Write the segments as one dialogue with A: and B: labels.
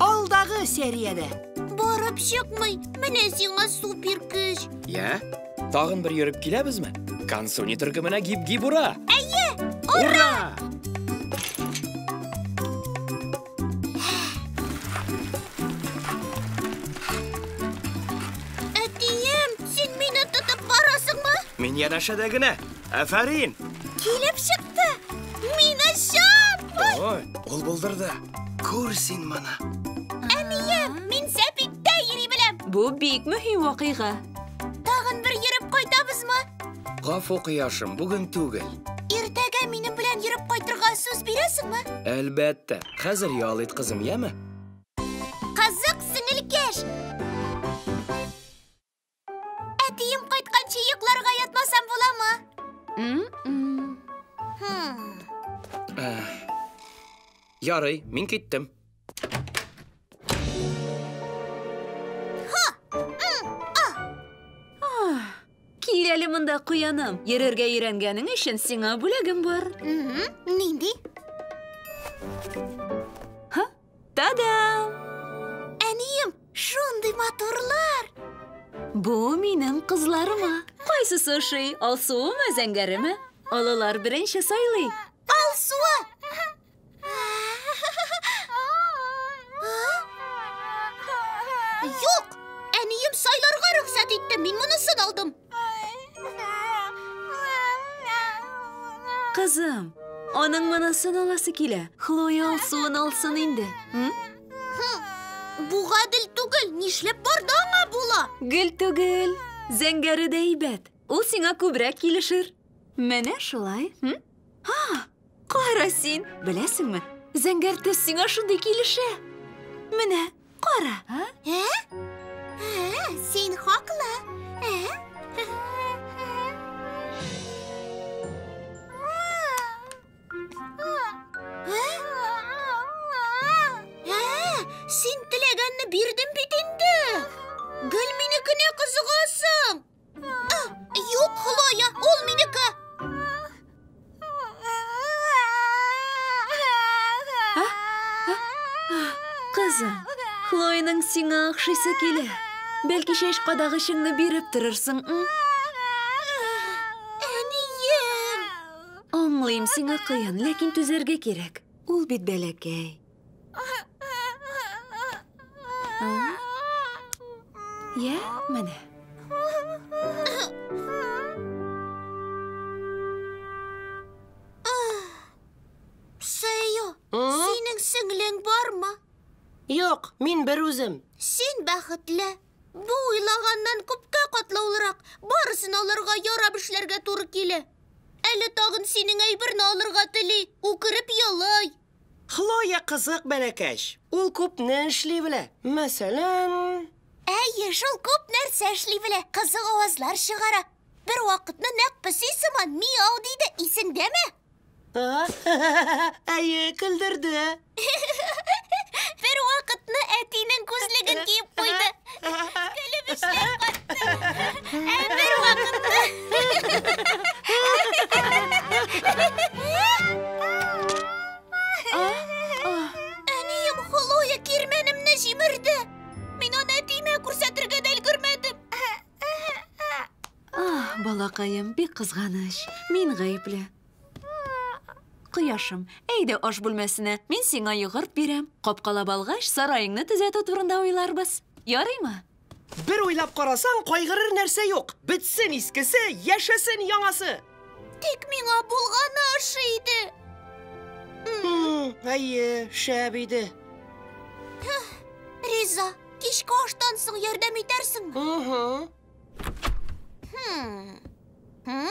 A: Алдагы сериядә. Барып чыкмый, менә сиңа супер көч. Йә, тагын бер йөреп киләбезме? Кансуни төркеменә гиб-гиб ура! Әйе, ура! Әтием, син мине тотып барасыңмы? Мин янәшәдә генә. Афәрин! Килеп чыкты! Мин ачам! Ой, ул булдырды. Күр син моны. Әнием, мин сәпиттә йөри беләм. Бу бик мөһим вакыйга. Тагын бер йөреп кайтабызмы? Гафу, кояшым, бүген түгел. Иртәгә минем белән йөреп кайтырга сүз бирәсеңме? Әлбәттә. Хәзер ял ит, кызым, яме? Кызык сеңелкәш! Әтием кайтканчы йокларга ятмасам буламы? М-м. Хм. Ярый, мин киттем. Кил әле монда, куяным. Йөрергә өйрәнгәнең өчен сиңа бүләгем бар. Мгм. Нинди? Та-дам! Әнием, шундый матурлар! Бу минем кызларыма. Кайсысы ошый, алсуымы, зәңгәреме? Олылар беренче сайлый. Алсуы! Юк! Әнием сайларга рөхсәт итте, мин монысын алдым. Кызым, аның монысын аласы килә. Хлоя алсуын алсын инде. Бу гадел түгел, нишләп барда аңа була? Гел түгел, зәңгәре дә әйбәт. Ул сиңа күбрәк килешер. Менә шулай. Ха, Кара син, беләсеңме, зәңгәр төс сиңа шундый килешә. Менә, кара. Ә? Ә? Ә, син хаклы. Ә? Син теләгәнне бирдем бит инде. Гел минекенә кызыгасың. Юк, Хлоя, ул минеке. Кызым, Хлояның сиңа охшыйсы килә. Бәлки шеш кадагычыңны биреп торырсың, м? Әнием! Аңлыйм, сиңа кыен, ләкин түзәргә кирәк. Ул бит бәләкәй. Йә, менә. Сыйо, синең сеңлең бармы? Юк, мин бер үзем. Син бәхетле. Бу уйлаганнан күпкә катлаулырак. Барысын алырга ярап эшләргә туры килә. Әле тагын синең әйберне алырга тели. Үкереп елый. Хлоя кызык бәләкәч. Ул күпне эшли белә. Мәсәлән. Әйе, шул күп нәрсә эшли белә. Кызык авазлар чыгара. Бервакытны нәкъ песи сыман миау диде, исеңдәме? Әйе, көлдерде. Бервакытны әтинең күзлеген киеп куйды. Әнием Холоя кирмәнемне җимерде. Мин аны әтиемә күрсәтергә дә өлгермәдем. Ах, балакаем, бик кызганыч. Мин гаепле. Кояшым, әйдә аш бүлмәсенә, мин сиңа йогырт бирәм. Капкалап алгач, сараеңны төзәтү турында уйларбыз. Ярыймы? Бер уйлап карасаң, кайгырыр нәрсә юк. Бетсен искесе, яшәсен яңасы! Тик миңа булганы ошый иде. Әйе, шәп иде. Риза, кичке аштан соң ярдәм итәрсеңме? Хм. Хм?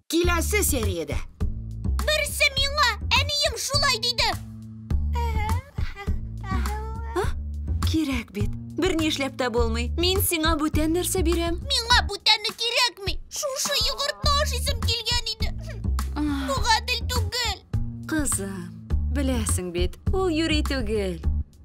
A: Киләсе сериядә. Берсе миңа, әнием шулай диде. Кирәк бит. Бер ни эшләп тә булмый. Мин сиңа бүтән нәрсә бирәм. Миңа бүтәне кирәкми. Шушы йогыртны ашыйсым килгән иде. Бу гадел түгел. Кызым, беләсең бит, ул юри түгел.